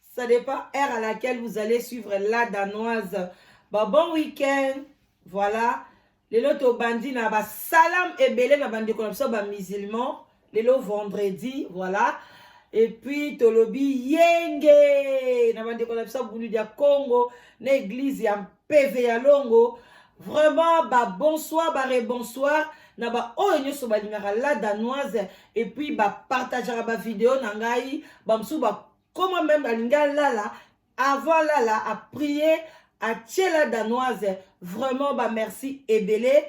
Ça dépend heure à laquelle vous allez suivre la danoise. Bah, bon week-end. Voilà. Lelo tobandi na ba salam ebele na bandeko na biso ba musulmans. Lelo vendredi, voilà. Et puis tolobi yenge na bandeko na biso bulu dia Congo na église ya peve ya longo vraiment ba bonsoir ba rebonsoir na ba oyo nyonso balingaka la danoise epuis bapartageaka bavideo na ngai bamosusu bakoma meme balingi alala avant alala aprie atie la danoise vraiment bamerci ebele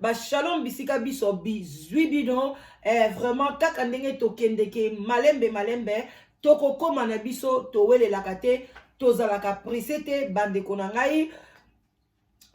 ba shalom bisika biso bizwi bino eh, vraiment kaka ndenge tokendeke malembe malembe tokokoma na biso towelelaka te tozalaka presse te bandeko na ngai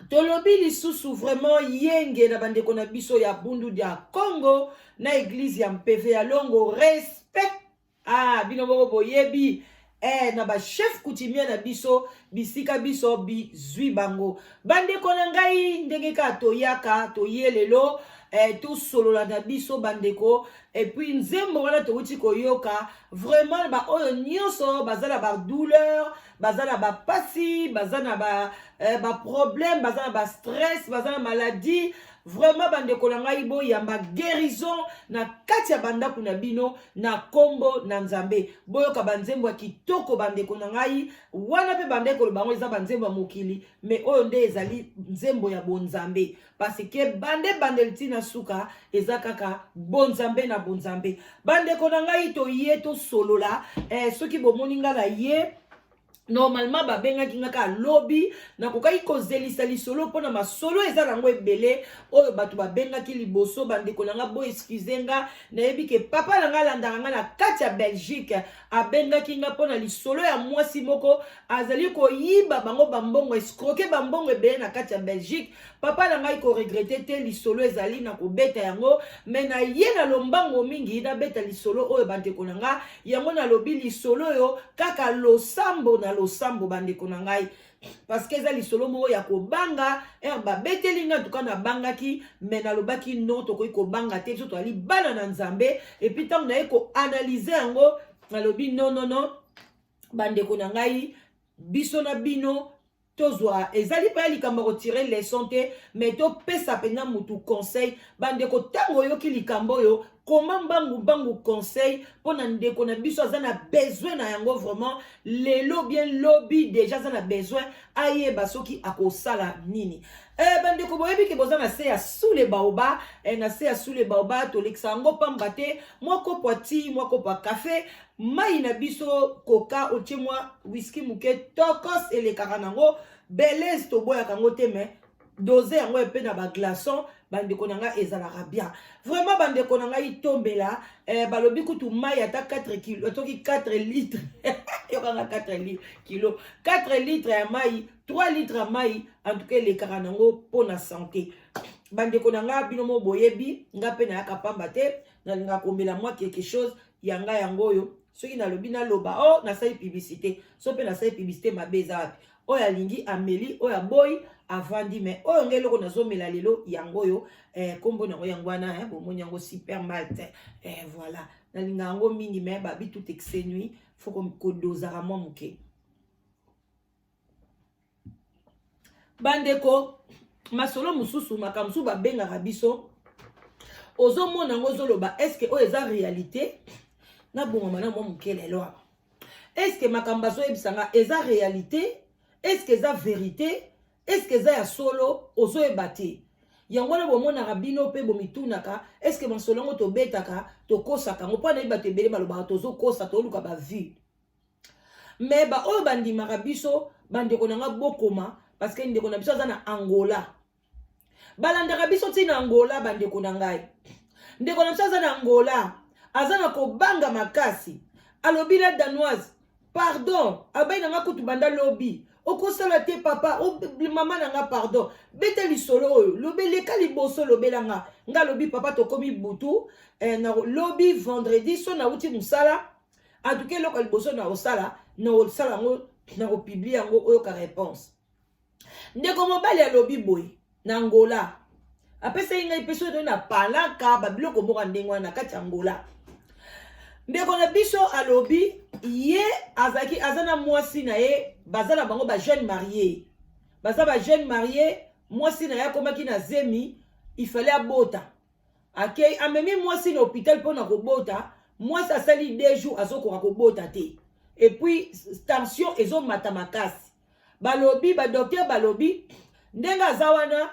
tolobi lisusu vraiment yenge na bandeko na biso ya bundu dia congo na eglize ya mpeve ya longo respect ah bino moko boyebi eh, na bachef coutumier na biso bisika biso bizwi bango bandeko na ngai ndenge kaka toyaka toye lelo eh, tosolola na biso bandeko epuis nzembo wana towuti koyoka vraiment baoyo nyonso baza na badouleur baza na bapasi baza na baproblème ba, eh, baza na bastress baza na maladie Vraiment bandeko na ngai boyamba guérison na kati ya bandako na bino na kombo na Nzambe. Boyoka banzembo ya kitoko bandeko na ngai wana pe bande koloba yango eza banzembo ya mokili mais oyo nde ezali nzembo ya bonzambe parce que bande bandeli ti na suka eza kaka bonzambe na bonzambe. Bandeko na ngai toye tosolola eh, soki bomoni ngai na ye normalement babengaki nga kaka lobi nakokaki kozelisa lisolo mpona masolo eza nango ebele oyo bato babengaki liboso bandeko na nga boexcuse nga nayebi ke papa na nga alandaka nga na kati ya belgique abengaki nga mpona lisolo ya mwasi moko azali koyiba bango bambongo escroke bambongo ebele na kati ya belgique papa na ngai koregrete te lisolo ezali na kobeta yango me na ye na lombango mingi nabeta lisolo oyo bandeko na ngai yango nalobi lisolo oyo kaka losambo na losambo bandeko na ngai parce que eza lisolo moko ya kobanga er babeteli ngai antuka nabangaki me nalobaki non tokoki kobanga te biso tozali bana na nzambe epuis ntango naye koanalyze yango nalobi nonono bandeko na ngai biso na bino tozwa ezali mpe ya likambo ya kotire leson te me topesa mpenza motu conseil bandeko ntango oyoki likambo oyo koma mbangu mbangu conseil mpo na ndeko na biso aza na besoin na yango vraiment lelo bien lobi deja aza na besoin ayeba soki akosala nini eh, bandeko boyebi ke boza na se ya sule baoba eh, na se ya sule baoba tolekisa yango mpamba te mwa kopo ya ti mwa kopo ya kafe Mai na biso koka otie mwa whisky moke tokos elekaka nango belese toboyaka yango te mais dose yango epe na baglaçon bandeko na ngai ezalaka bien vraiment bandeko na ngai tombela eh, balobi kutu mai ata 4 kilo atoki 4 litre yokanga 4 kilo 4 litre ya mai 3 litre ya mai antuka elekaka nango mpo na sante bandeko na ngai bino mo boyebi ngai mpe nayaka pamba te nalingaka komela mwa quelque chose ya ngai yango oyo soki nalobi naloba o oh, nasali publicité so mpe nasali publicité mabe eza wapi oyo alingi ameli oyo aboyi avandi me oyo ngai eloko nazomela lelo yango oyo eh, kombo nango yango wana eh, bomoni yango super malt eh, voilà nalinga yango mingi me babi tout exenui fo kodozaka mwa moke bandeko masolo mosusu makambo mosusu babengaka biso ozomona yango ozoloba eske oyo eza réalité nabongama na mwa moke lelo awa eske makambo bazoyebisa nga eza réalité eske eza vérité eske eza ya solo ozoyeba te yango wana bomonaka bino mpe bomitunaka eske masolo yango tobetaka tokosaka yango mpo anayebi bato ebele balobaka tozokosa toluka bavue me baoyo bandimaka biso bandeko na nga bokoma parce que ndeko na biso aza na angola balandaka biso ti na angola bandeko na ngai ndeko na biso aza na angola aza na kobanga makasi alobi la danoise pardon abai na nga kutu banda lobi okosala te papa mama na nga pardon beta lisolo oyo lobe leka liboso lobela nga nga lobi papa tokomi butu eh, na lobi vendredi so nauti mosala en tout cas eloko ya liboso na kosala na kosala yango na kopiblie yango oyoka réponse ndeko mobali alobi boye na angola apesaki ngai mpe soki na palaka babiloko moko ndenge wana na kati ya angola ndeko na biso alobi ye azalaki aza na mwasi na ye baza na bango bajeune marie baza bajeune marie mwasi na ye akomaki na zemi ifale abota akei amemi mwasi na hôpital mpo na kobota mwasi asali deux jours azokoka kobota te epuis tension ezomata makasi balobi badoktere balobi ndenge aza wana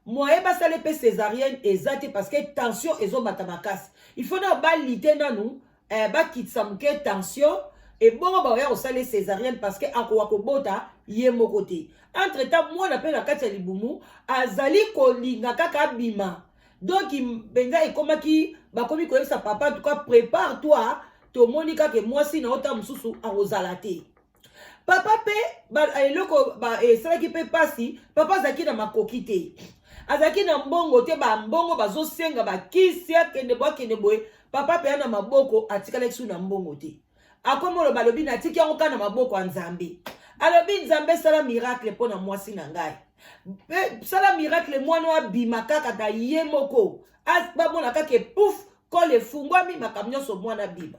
moye basala mpe césarienne eza te parce que tension ezomata makasi il faut nao balite nanu eh, bakitisa moke tension ebongo bakoya kosala ye césarienne parce que akoka kobota ye moko te entre temps mwana mpe na kati ya libumu azali kolinga kaka abima donc mpenza ekomaki bakomi koyebisa papa tuka prépare toi tomoni kaka mwasi na yo ntango mosusu akozala te papa mpe eloko esalaki mpe mpasi papa azalaki na makoki te azalaki na mbongo te bambongo bazosenga bakisi akende boye akende boye papa mpe ya na maboko atikalaki su na mbongo te akomi oloba alobi natiki yango kaka na maboko ya nzambe alobi nzambe sala miracle mpo na mwasi na ngai sala miracle mwana oyo abima kaka na ye moko bamona kaka epouf kole efungwami makambo nyonso mwana abima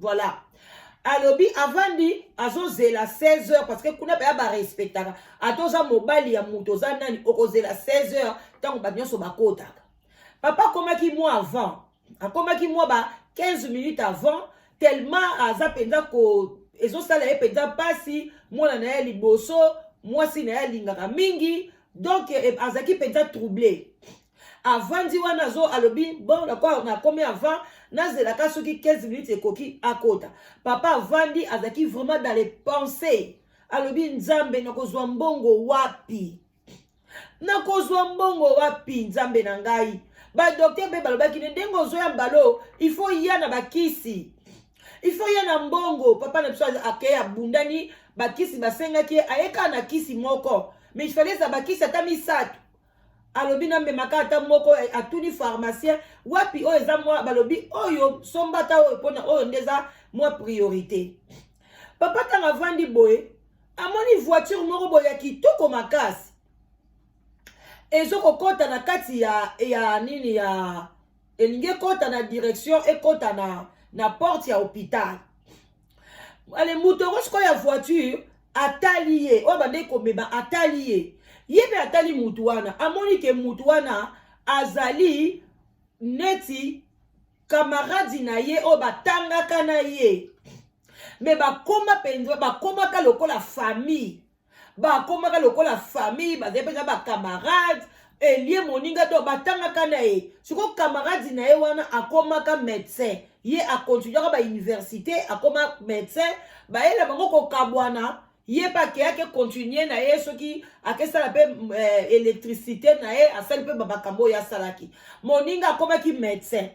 voilà alobi avandi azozela 16 heures parce que kuna baya barespectaka ata oza mobali ya moto oza nani okozela 16 heures ntango bato nyonso bakotaka papa akomaki mwa avant akomaki mwa ba 15 minutes avant tellement aza mpenza ko ezosala ye mpenza mpasi mwana na ye liboso mwasi na ye alingaka mingi donc eh, azalaki mpenza trouble avandi wana azo alobi bon nakwa nakomi avant nazelaka soki 15 minutes ekoki akota papa avandi azalaki vraiment dans les pensées alobi nzambe nakozwa mbongo wapi nakozwa mbongo wapi nzambe na ngai badokter mpe balobaki ne ndenge ozoya mbalo ifo ya na bakisi ifo ya na mbongo papa na biso akei abundani bakisi basengaki ye ayekana na kisi moko mais ifale eza bakisi ata misato alobi na memaka ata moko eh, atuni pharmacien wapi oyo eza mwa balobi oyo somba ata oyo mpona oyo nde eza mwa priorité papa ntango avandi boye amoni voiture moko boye ya kitoko makasi ezokokɔta na kati ya ya nini ya elingi ekota na direction ekota na, na porte ya hopital ale moto yango sikoyo ya voiture atali ye oyo abandaki komema atali ye ye mpe atali motu wana amoni ke motu wana azali neti kamaradi na ye oyo batangaka na ye me bakoma mpenza bakomaka lokola famille bakomaka lokola famille bazali mpenza bacamarade elie moninga to batangaka na ye sikoyo camarade na ye wana akomaka médecin ye akontinuaka bauniversité akoma médecin bayela bango kokabwana ye mpe akeyaki continue na ye soki akesala mpe eh, électricité na ye asali mpe bamakambo oyo asalaki moninga akomaki médecin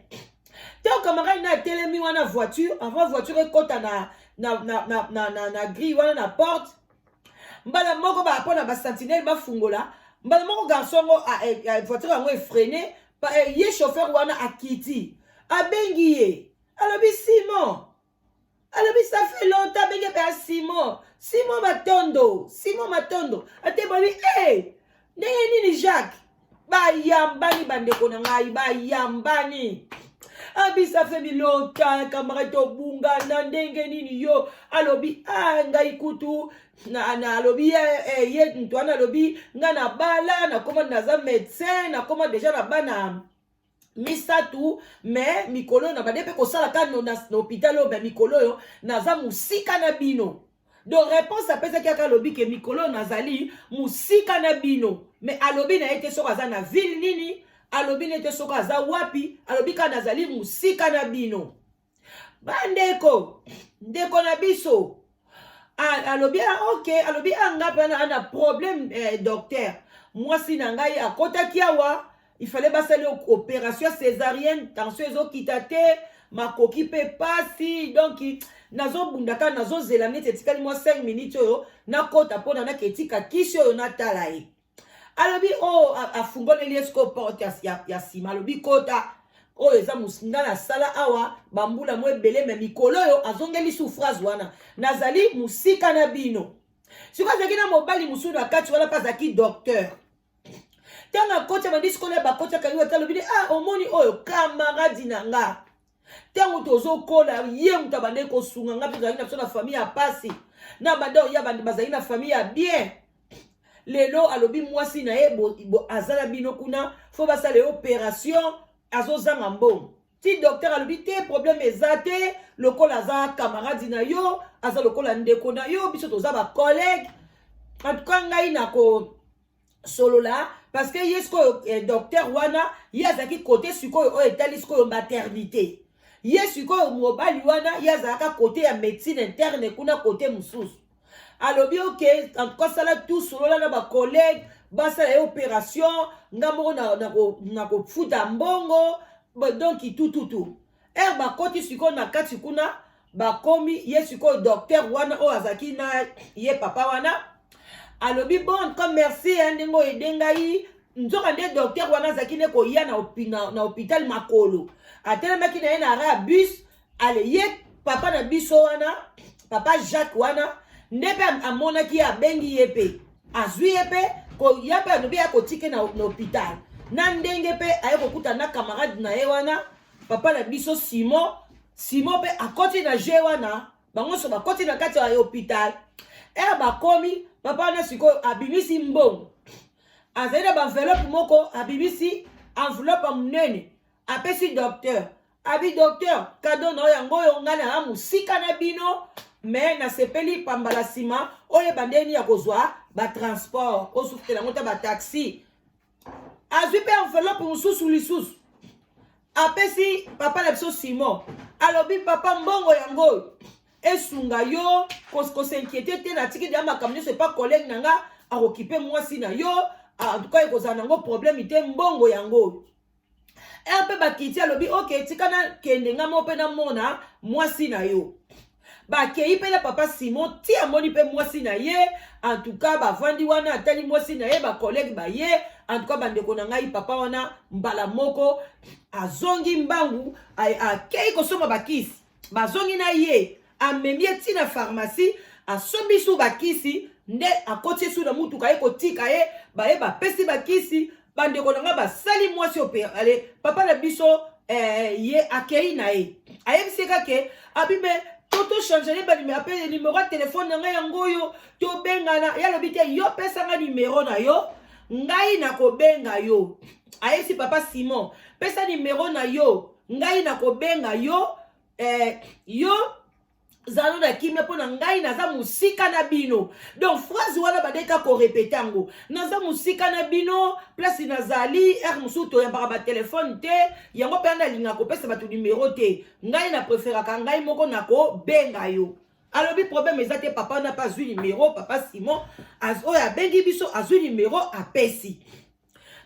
ntango camarade na atelemi wana voiture avant voiture ekɔta na, na, na, na, na, na, na grille wana na porte mbala moko bapo na basentinele bafungola mbala moko garçon yango eh, eh, voiture yango efrene eh, ye chauffeur wana akiti abengi ye alobi simon alobi ça fait longtemps benge mpe ya simon simon matondo simon matondo ate babi e hey, eh, ndenge nini jacques bayambani bandeko na ngai bayambani abisa fe bilota kamara tobungana ndenge nini yo alobi a ah, ngai kutu nalobi na, na eh, eh, ye nto wana alobi ngai nabala nakoma naza médecin nakoma deja na bana misato me mikolo oyo na bande mpe kosalaka na hôpital oyo me mikolo oyo naza mosika na bino donc réponse apesaki aka alobi ke mikolo oyo nazali mosika na bino me alobi na ye te soki aza na ville nini alobi na ye te soki aza wapi alobi kaka nazali mosika na bino bandeko ndeko na biso alobi ok alobi anga mpe na problème eh, docteur mwasi na ngai akotaki awa ifale basali opération césarienne tension ezokita te makoki mpe pasi donc nazobunda kaka nazozela neti etikali mwa 5 minutes oyo nakota mpona naka etika kisi oyo natala ye alobi oyo oh, afungoleli ye sikoyo porte ya nsima alobi kota oyo eza nga nasala awa bambula mo ebele me mikolo oyo azongeli su phrase wana nazali mosika na bino sikoyo azalaki na mobali mosusu na kati wana mpe azalaki docteur ntango akoti abandi sikoyo na bakoti akangi wata alobi ah omoni oyo kamaradi na nga ntango tozokola ye moto abandaki kosunga ngai mpe tozalaki na biso na famille ya mpasi na banda oya bandi bazali na famille ya bien lelo alobi mwasi na ye aza na bino kuna fo basala ye operation azozanga mbongo ti docteur alobi te problème eza te lokola aza camarade na yo aza lokola ndeko na yo biso toza bacollègue en tout cas ngai nako solola parce que ye sikoyo eh, docteur wana ye azalaki kote sikoyo oyo etali sikoyo maternité ye sikoyo mobali wana ye azalaka kote ya médecine interne kuna kote mosusu alobi oke en tout cas sala tout solola na bacollègue basala ye opération nga moko nakofuta na, na mbongo donc tututu ere bakoti sikoyo na kati kuna bakomi ye sikoyo docteur wana oyo azalaki na ye papa wana alobi bon comme merci ndenge oyede ngai nzoka nde docteur wana azalaki nde koya na hôpital makolo atelemaki na ye na ara ya bus ale ye papa na biso wana papa jacques wana nde mpe amonaki ye abengi ye mpe azwi ye mpe ya mpe alobi akotike na hôpital na ndenge mpe aye kokuta na camarade na ye wana papa na biso simon simon mpe akoti na jeu wana bango nyonso bakoti na kati ya hôpital ere bakomi papa wana sikoyo abimisi mbongo azali na baenveloppe moko abimisi enveloppe ya monene apesi docteur abi docteur kado na yo yango oyo ngai na mosika na bino me nasepeli pamba na nsima oyeba ndeni ya kozwa batransport osukutela yango ta bataxi azwi mpe enveloppe mosusu lisusu apesi papa na biso simon alobi papa mbongo yango oyo esunga yo kosinquiete te natiki deya makambo nyonso epa kolege na nga akokipe mwasi na yo antuka ekozala nango probleme te mbongo yango oyo rp bakiti alobi oke tika nakende nga moko mpe namona mwasi na yo bakei mpe na papa simon ti amoni mpe mwasi na ye antuka bavandi wana atali mwasi na ye bakolege baye antuka bandeko na ngai papa wana mbala moko azongi mbangu akei kosomba bakisi bazongi na ye amemi ye ntina pharmacie asombi su bakisi nde akoti su na motuka ye kotika ye baye bapesi bakisi bandeko na ngai basali mwasi operale papa na biso eh, ye akei na ye ayebisi ye kake abime to tochange ne banime apele nimero ya telefone na ngai yango oyo tobengana ye alobi te yo pesa ngai nimero na yo ngai nakobenga yo ayebisi papa simon pesa nimero na yo ngai nakobenga yo eh, yo zalo na kimia mpo na ngai naza mosika na bino donc phrase wana bandeki kaka korepete yango naza mosika na bino place nazali ere mosusu toyambaka batelefone te yango mpe ana alingaka kopesa bato nimero te ngai na preferaka ngai moko nakobenga yo alobi problème eza te papa wana mpe azwi nimero papa simon oyo abengi biso azwi nimero apesi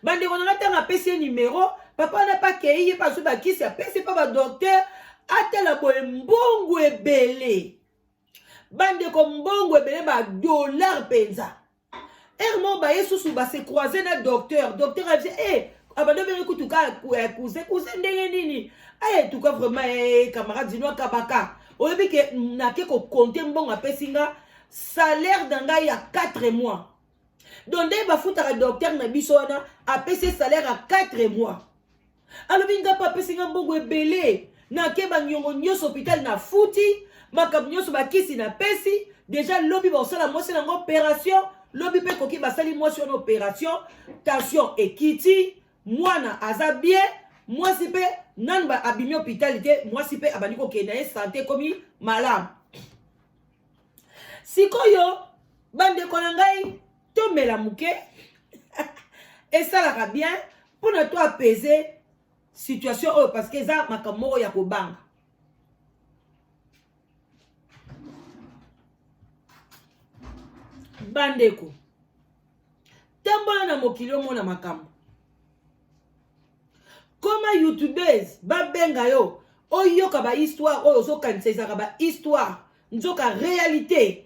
bandeko na nga ntango apesi ye nimero papa wana mpe akei ye mpe azwi bakisi apesi mpe badoktere atala boye mbongo ebele bandeko mbongo ebele badollar mpenza ere moko baye susu base croise na docteur docteur abise e eh, abanda bene kutu ka eh, cousin cousin ndenge nini aye eh, tuka vraiment e camarade zino akabaka oyebi ke nake kokonte mbongo apesi nga salaire na ngai ya 4 mois donc nde bafutaka docteur na biso wana apesi salaire ya 4 mois alobi nga mpe apesi nga mbongo ebele nake baniongo nyonso hôpital nafuti makambo nyonso bakisi napesi deja lobi bakosala mwasi nango operation lobi mpe ekoki basali mwasi wana operation tension ekiti mwana aza bie mwasi mpe nanu abimi hôpital te mwasi mpe abandi kokende na ye sante ekomi malamu sikoyo bandeko na ngai tomela moke esalaka bien mpo na to apese situation oyo parce que eza makambo moko ya kobanga bandeko tambola na mokili omona makambo koma youtubes babenga yo oyoka bahistoire oyo ozokanisa ezalaka bahistoire nzoka réalité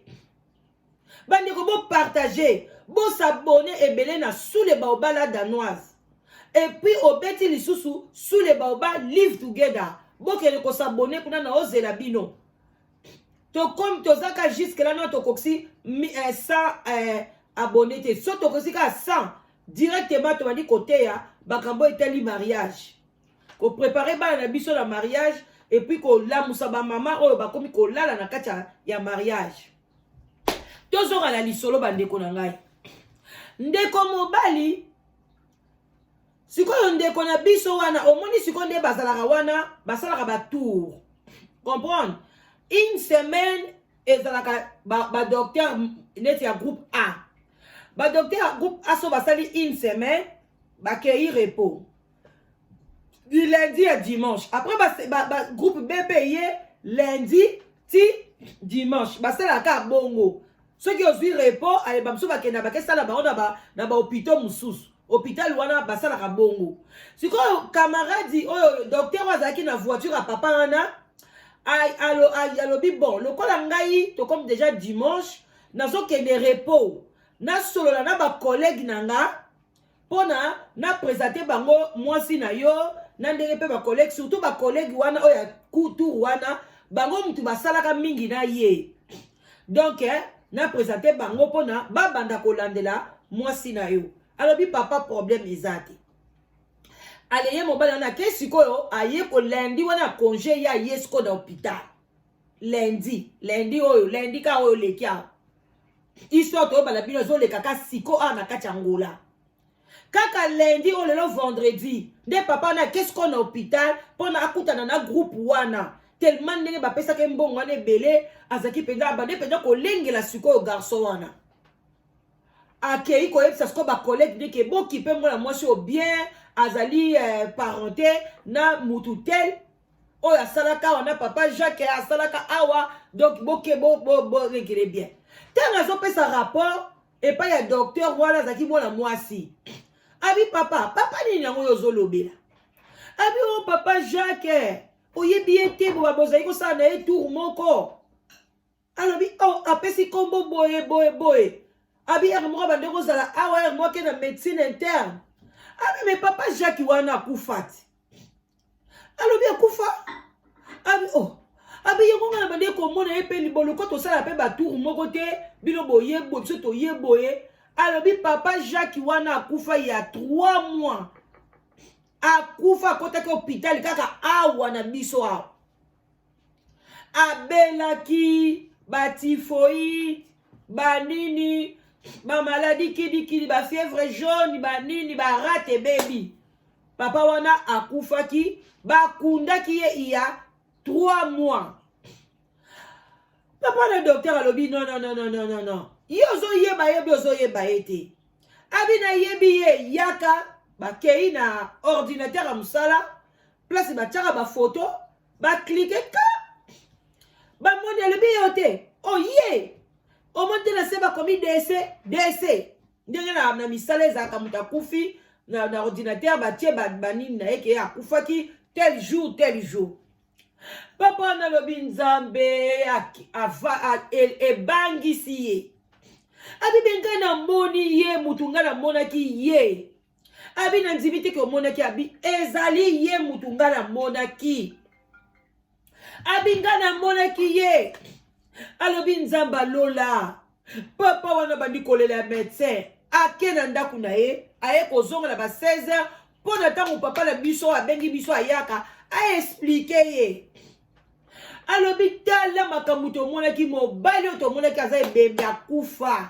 bandeko bopartage bosabone ebele na sule baobala danoise epuis obeti lisusu sule baoba live together bokende kosabone kuna na ozela bino tokomi tozaka jusque là no tokokisi 100 eh, eh, abonné te so tokokisi kaka 100 directement tobandi koteya makambo etali mariage koprepare bana na biso na mariage epuis kolamusa bamama oyo bakomi kolala na kati ya mariage tozonga na lisolo bandeko na ngai ndeko mobali sikoyo ndeko na biso wana omoni sikoyo nde bazalaka wana basalaka batour comprendre une semaine ezalaka badocteur ba neti ya groupe a badocteur ya groupe a so basali une semaine bakei repos du lundi ya dimanche après ba, ba, ba, groupe b mpe ye lundi ti dimanche basalaka bongo soki ozwi repo aye bamosusu bakenda bakesala bango na bahopito mosusu hôpital wana basalaka bongo sikoyo camarade oyo docteur oyo azalaki na voiture ya papa wana alobi bon lokola ngai tokomi déjà dimanche nazokende repos nasolola na bacollègue na nga pona na presente bango mwasi na yo na ndenge mpe bacollege surtout bacollege wana oyo ya tour wana bango motu basalaka mingi na ye donk eh, na presente bango mpona babanda kolandela mwasi na yo alobi papa problème eza te aleye mobali wana ake sikoyo aye kolendi wana ya konge ye aye sikoyo na hopital lendi lendi oyo lendi ka oyo leki awa histoire toyebana bino ezoleka ka siko awa na kati ya ngola kaka lundi oyo lelo vendredi nde papa wana akesiko na hôpital mpo na akutana na groupe wana tellement ndenge bapesaki mbongo wana ebele azalaki mpenza abande mpenza kolengela sikoyo garçon wana akei koyebisa sikoyo bacollege ndeke bokipe mwana mwasi oyo bien azali eh, parente na mutu tel oyo asalaka awa na papa jacques asalaka awa donc boke boregele bien ntango azopesa rapport epai ya docteur wana azalaki mwana mwasi abi papa papa nini yango oyo ozolobela abi o oh, papa jacques oyebi ye te boba bozali kosala na ye tour moko alobi o oh, apesi nkombo boye boye boye abi ere moko abandi kozala awa ere moko ake na médecine interne abi me papa jacques wana akufa ti alobi akufa abi o oh. abi yango ngai nabandi komona ye mpe liboluko tosala mpe batour moko te bino boye boye biso toye boye alobi papa jacques wana akufa ya 3 mois akufa akotaki hôpital kaka awa na biso awa abelaki batifoi banini bamaladi kidikidi bafievre jaune banini barate ebebi papa wana akufaki bakundaki ye iya 3 mois papa na docteur alobi non non non non non non ye ozoyeba ye bi ozoyeba ye te abi nayebi ye yaka bakei na ordinateur ya mosala place batiaka bafoto baklike ka bamoni alobi yo te oye oh, omoni te na se bakomi dese dese ndenge na, na misala ezalaka moto akufi na, na ordinateur batie banini na ye ke akufaki tel jour tel jour papa wana alobi nzambe ebangisi ye abibi ngai namoni ye motu ngai namonaki ye abi na ndimi te ke omonaki abi ezali ye mutu nga namonaki abi nga namonaki ye alobi nzambe alola papa wana bandi kolela ya medecin ake na ndako na ye aye kozonga na ba 16 heures mpo na ntango papa na biso abengi biso ayaka aexplike ye alobi tala makambo tomonaki mobali oyo tomonaki aza ebembe akufa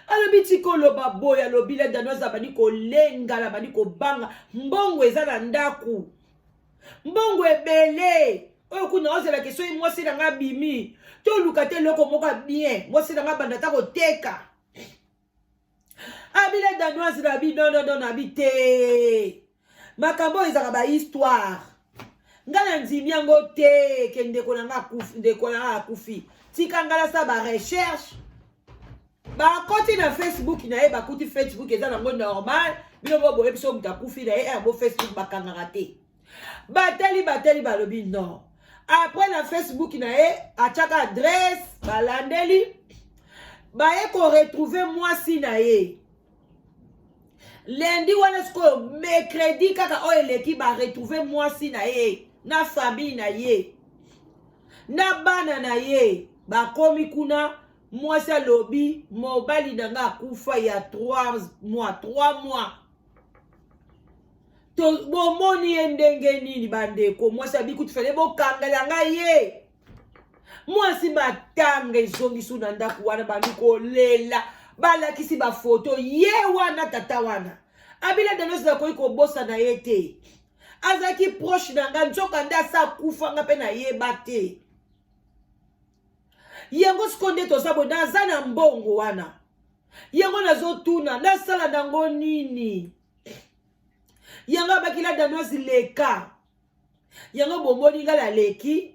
alobi tika oloba boye alobi la danoise abandi kolengana abandi kobanga mbongo eza na ndako mbongo ebele oyo kuna ozalaki soki mwasi na ngai abimi toluka te eloko moko bien mwasi na ngai abanda ata koteka abila danoise na bi nonono na bi te makambo oyo ezalaka bahistoire nga na ndimi yango te ke ndeko na nga akufi ndeko na nga akufi tika nga nasala barecherche bakoti na facebook na ye bakuti facebook eza nango normal bino boboye biso moto akufi na ye eh, yango facebook bakangaka te batali batali balobi non apres na facebook na ye atyaka adresse balandeli baye koretrouve mwasi na ye lendi wana sikoyo mercredi kaka oyo eleki baretrouve mwasi na ye na famille na ye na bana na ye bakomi kuna mwasi alobi mobali na nga akufa ya 3 mois 3 mois bomoni ye ndenge nini bandeko mwasi abikuti fale bokangela ngai ye mwasi matanga ezongisi na ndako wana bandi kolela balakisi bafoto ye wana tata wana abila danos nakoki kobosana ye te azalaki proche na ngai nzoka nde asa akufa nga mpe nayeba te yango siko nde toza boye naza na mbongo wana yango nazotuna nasala nango nini yango abakila danoise leka yango bomoni ngai naleki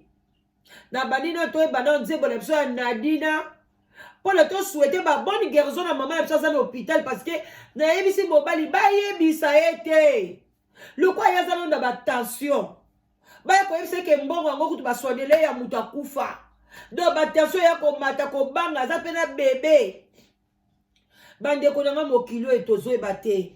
nabandi na toyeba na nzembo na biso ya nadina mpo na toswete babone guerison na mama na biso aza na hôpital parce que nayebisi mobali bayebisa ye te lokola ye aza londa batension baya koyebisa eke mbongo yango kutu baswanele ya moto akufa donc batension ya komata kobanga aza mpe na bebe bandeko na ngai mokili oyo tozoyeba te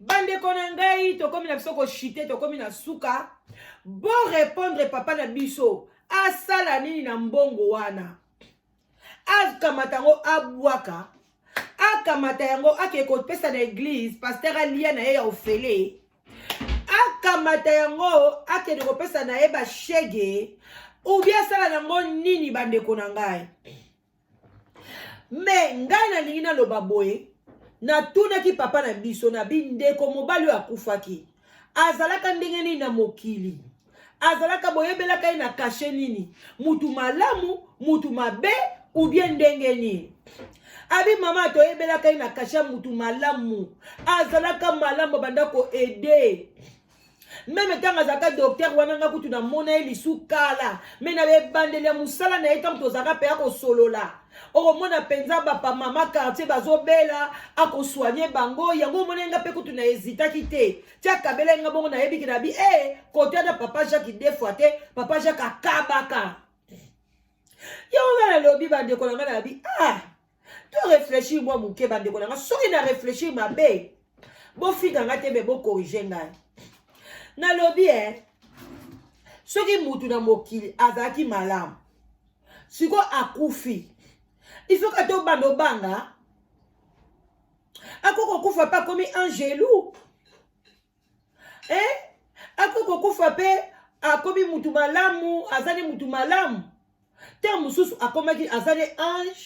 bandeko na ngai tokomi na biso koshite tokomi na suka borepondre papa na biso asala nini na mbongo wana akamata yango abwaka akamata yango akee kopesa na eglize paster alia na ye ya ofele akamata yango akende kopesa na ye bashege ubia asala nango nini bandeko na ngai me ngai nalingi naloba boye natunaki papa na biso na bindeko mobali oyo akufaki azalaka ndenge nini na mokili azalaka boyebelaka ye na kashe nini mutu malamu mutu mabe ubie ndenge nini abi mama toyebelaka ye na kashe mutu malamu azalaka malamu abanda koede meme ntango azalaka doktere wana nga kutu namona ye lisu kala me na ebandeli ya mosala na ye ntango tozalaka mpe akosolola okomona mpenza bapamama quartier bazobela akosoigne bango yango omona nga mpe kutu na ezitaki te tia kabela nga bongo nayebiki na bi e eh, hey, kote na papa jacques defoi te papa jacques akabaka yango nga nalobi bandeko na nga na bi ah to réfléchir mwa moke bandeko na nga soki na réfléchir mabe bofinga nga te me bokorige ngai nalobi e eh, soki mutu na mokili azalaki malamu sikoyo akufi ifoki ata obanda obanga akoki kokufa mpe akomi angelu eh? akoki kokufa mpe akomi mutu malamu azali mutu malamu ntango mosusu akomaki azali ange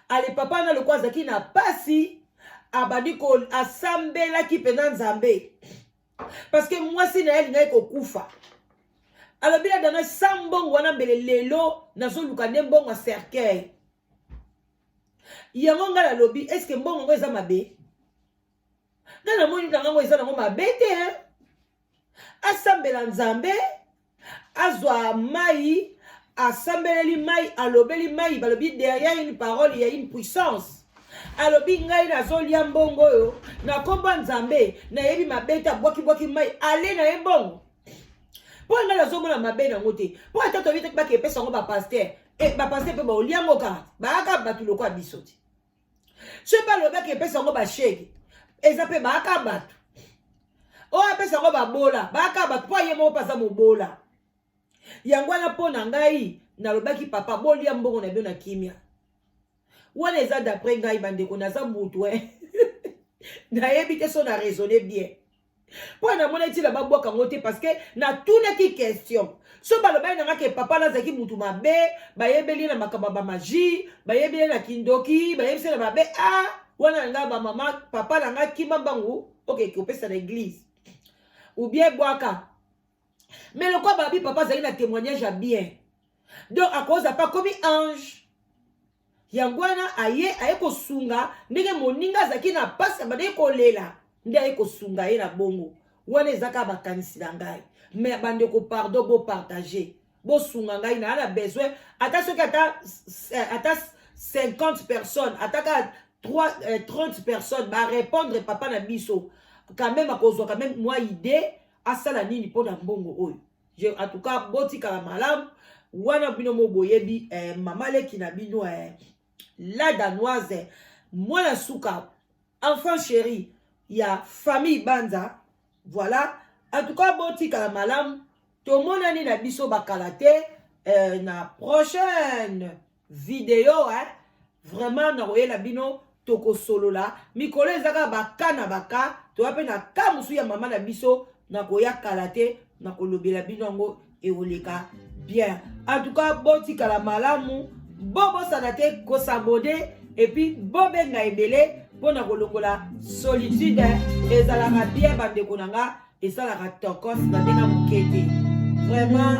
ale papa wana lokola azalaki na mpasi abandi ko asambelaki mpenza nzambe parceke mwasi na ye alingaki kokufa alobi na dana sa mbongo wana mbele lelo nazoluka nde mbongo ya cercueil yango ngai nalobi eske mbongo yango eza mabe nga na moni na ngango eza nango mabe te hein? asambela nzambe azwa mai asambeleli mai alobeli mai balobi derrière une parole ya une puissance alobi ngai nazolia mbongo oyo na nkombo ya nzambe nayebi mabe te abwakibwaki mai ale na ye mbongo mpo ngai nazomona mabe nango te mpo ata toyebi te bakepesa yango bapaster eh, bapaster mpe baolia yango kaka baaka bato lokola biso te soki balobaki epesa yango bashege eza mpe baaka bato oyo apesa yango babola baaka bato mpo aye moko mpe aza mobola yango wana mpo na ngai nalobaki papa bolia mbongo na bino na kimia wana eza d'après ngai bandeko naza motu e nayebi te so na raisonne bien mpo namonaki ntina babwaka yango te parce que natunaki question so balobaki na ngaki papa nazalaki motu mabe bayebeli na makambo ya bamagie bayebeli na kindoki bayebisi na mabe a ah, wana na ngai bamama papa na ngai kima mbangu oke kopesa na eglise ubien bwaka mais lokola babi papa azali na témoignage ya bien donc akoza pa komi ange yango wana aye aye kosunga ndenge moninga azalaki na mpasi abandaki kolela nde aye kosunga ye na bongo wana eza kaka makanisi na ngai me bandeko pardon bopartage bosunga ngai naa na besoin ata soki ata, eh, ata 50 personnes ata kaka 30 eh, personnes barépondre papa na biso quand même akozwa quand même mwa idée asala nini mpo na mbongo oyo Je, en tout cas botikala malamu wana bino mo boyebi eh, mama leki na bino eh, la danoise eh, mwana suka enfant chéri ya famille banza voilà en tout cas botikala malamu tomonani na biso bakala te eh, na prochaine video eh? vraiment nakoyela bino tokosolola mikolo eza kaka baka na baka toya mpe na ka mosusu ya mama na biso nakoya kala te nakolobela bino yango ekoleka bien en tout cas botikala malamu bobosana te kosabone epuis bobenga ebele mpo na kolongola solitude ezalaka bien bandeko na nga esalaka tokos na ndenge moke te vraiment